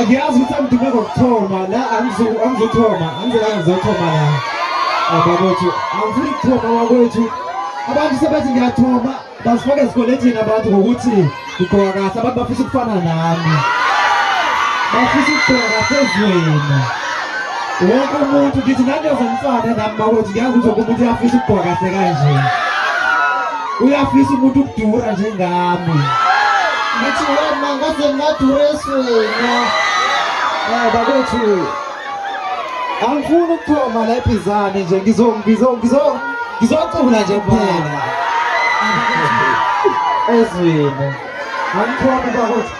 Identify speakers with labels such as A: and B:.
A: Ngiyazi ukuthi angidume ngokuthoma la angizothoma angizela ngizothoma la bakwethu angifuni kuthoma wakwethu abantu sebethi ngiyathoma bazifake ezikolethini abantu ngokuthi ngigqoka kahle abantu bafisa ukufana nami bafisa ukugqoka kahle ezweni wonke umuntu ngithi ngandiyoze ngifane nami bakwethu ngiyazi ukuthi wonke umuntu uyafisa ukugqoka kahle kanje uyafisa umuntu ukudura njengami
B: ngithi wena ngaze ngadura eswena eh
A: bakwethu angifuni ukuthoma la ibhizane nje ngizo ngizo ngizo ngizocula nje kuphela ezwini angithoma bakwethu